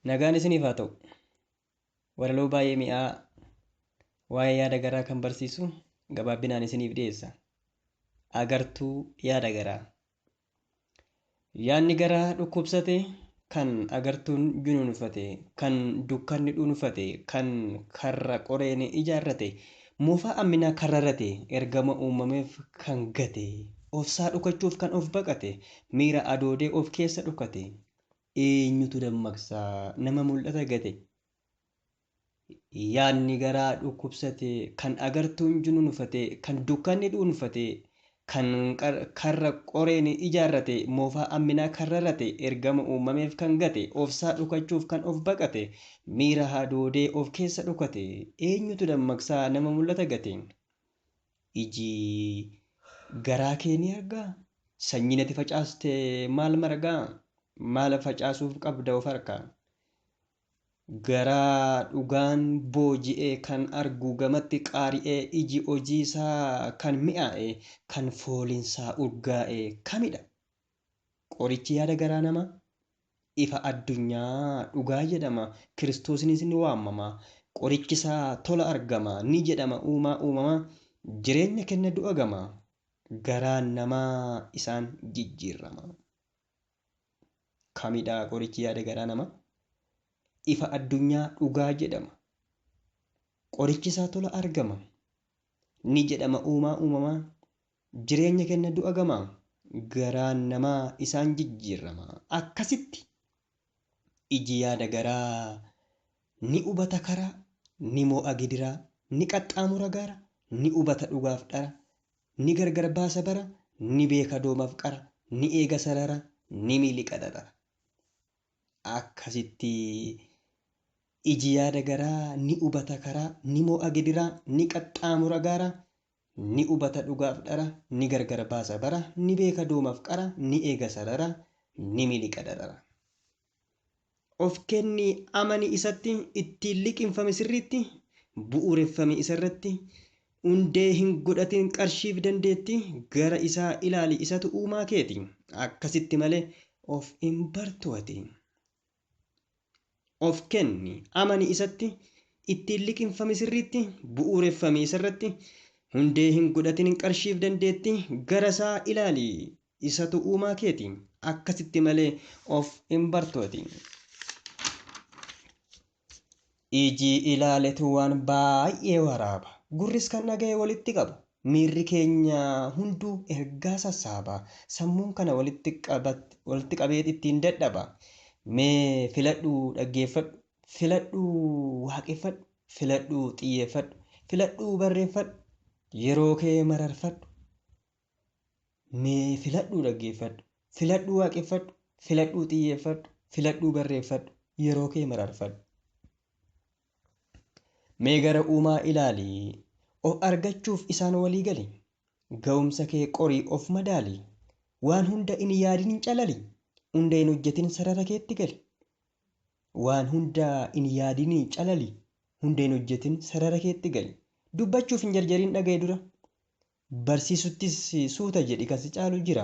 Nagaan isiniif haa ta'u. Walaloo baay'ee mi'aa waa'ee yaada garaa kan barsiisu gabaabbinaan isiniif dhiyeessa. Agartuu yaada garaa. Yaadni garaa dhukkubsate, kan agartuun junuunfate, kan dukkanni dhuunfate, kan karra qoreen ijaarrate, Moofaa amminaa kan rarate, ergama uumameef kan gate, ofsaa dhokachuuf kan of baqate, miira adoodee of keessa dhokate, eenyutu dammaqsa nama mul'ata gate? Yaadni garaa dhukkubsate, kan agartuun junuunfate, kan dukkanni dhuunfate, Kan karra qoreen ijaarrate, moofaa amminaa kan rarate, ergama uumameef kan gate, ofsaa dhokachuuf kan of baqate, miira hadoodee of keessa dhokate, eenyutu dammaqsaa nama mul'ata gate? Iji garaa kee ni argaa? Sanyiin ati facaaste maal margaa? Maal facaasuuf qabda of harkaa? Garaa dhugaan booji'e kan argu gamatti qaari'ee iji hojiisaa kan mi'aaye, kan fooliinsaa urgaa'e kamidha? Qorichi yaada garaa namaa? Ifa addunyaa dhugaa jedhama, Kiristoosinis ni waamama. Qorichisaa tola argama, ni jedhama uumaa uumamaa, jireenya kenna du'a gama. Garaan namaa isaan jijjiirrama. Kamidha qorichi yaada garaa nama? Ifa addunyaa dhugaa jedhama. Qorichi isaa tola argama. Ni jedhama uumaa uumamaa. Jireenya kenna du'a gama. Garaan namaa isaan jijjiirrama. Akkasitti iji yaada garaa ni hubata karaa, ni moo'a gidiraa, ni qaxxaamura gaara, ni hubata dhugaaf dhara, Ni gargar baasa bara Ni beeka doomaf qara Ni eega sarara Ni miliqa darara Akkasitti Iji yaada garaa Ni hubata karaa Ni mo'a gidiraa Ni qaxxaamura gaara Ni hubata dhugaaf dhara Ni gargar baasa bara Ni beeka doomaf qara Ni eega sarara Ni miliqa darara of kenni amani isatti ittiin liqimfame sirriitti bu'uureffame isarratti hundee hin godhatin qarshiif dandeetti gara isaa ilaali isatu uumaa keeti akkasitti malee of hin bartu ati of kenni amani isatti ittiin liqimfame sirriitti bu'uureffame isarratti hundee hin godhatin qarshiif dandeetti gara isaa ilaali Isatu uumaa keeti. Akkasitti malee of hin bartooti. Iji ilaaletu waan baay'ee waraaba. Gurris kan dhaga'e walitti qaba. Miirri keenya hunduu ergaa sassaaba. Sammuun kana walitti qabat- walitti qabee ittiin dadhaba. Mee filadhuu dhaggeeffadhu. Filadhuu waaqeffadhu. Filadhuu xiyyeeffadhu. Filadhuu barreeffadhu. Yeroo kee mararfadhu. Mee filadhuu dhaggeeffadhu, filadhuu waaqeffadhu, filadhuu xiyyeeffadhu, filadhuu barreeffadhu, yeroo kee mararfadhu. Mee gara uumaa ilaali, of argachuuf isaan walii gali. Ga'umsa kee qorii of madaali, waan hunda in yaadin hin calali, hunda hin hojjetin sarara keetti gali. Waan hunda in yaadin calali, hunda hin hojjetin sarara keetti gali. Dubbachuuf hin jarjarin dhaga'i dura. Barsiisuttis suuta jedhi kan si caalu jira.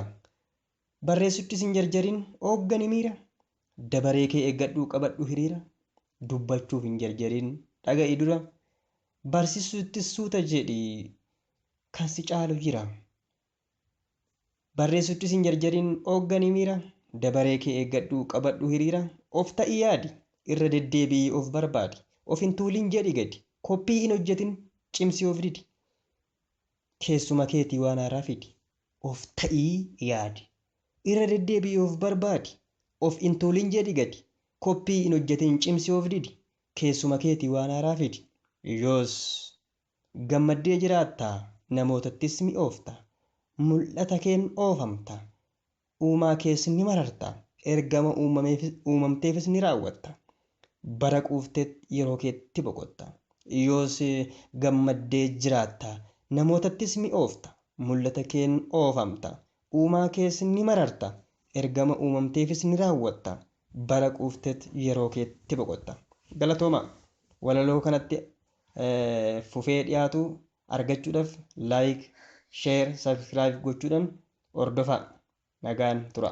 Barreessuttis hin jarjarin ooggani miira. Dabaree kee eeggadhu qabadhu hiriira. Dubbachuuf hin jarjarin dhaga'i dura. Barsiisuttis suuta jedhi kan si caalu jira. Barreessuttis hin jarjarin ooggani miira. Dabaree kee eeggadhu qabadhu hiriira. Of ta'i yaadi irra deddeebi'i of barbaadi. Of hin tuulin jedhi gadi. Koppii hin hojjetin cimsi of didi. Keessuma keetii waan haaraa fidi. Of ta'ii yaadi. Irra deddeebi'i of barbaadi. Of in tuulin jedhi gadi. Koppii in hojjetin cimsi of didi. Keessuma keetii waan haaraa fidi. Yoos gammaddee jiraatta, namootattis mi'oofta. Mul'ata keen oofamta. Uumaa kees ni mararta, ergama uumamteefis ni raawwatta. Bara quufteet yeroo keetti boqotta. Yoos gammaddee jiraatta, namootattis mi'oofta. Mul'ata keen oofamta. Uumaa kees ni mararta, ergama uumamteefis ni raawwatta. Bara quufteet yeroo keetti boqotta. Galatoomaa! Walaloo kanatti fufee dhiyaatu argachuudhaf like share subscribe gochuudhan hordofaa nagaan tura.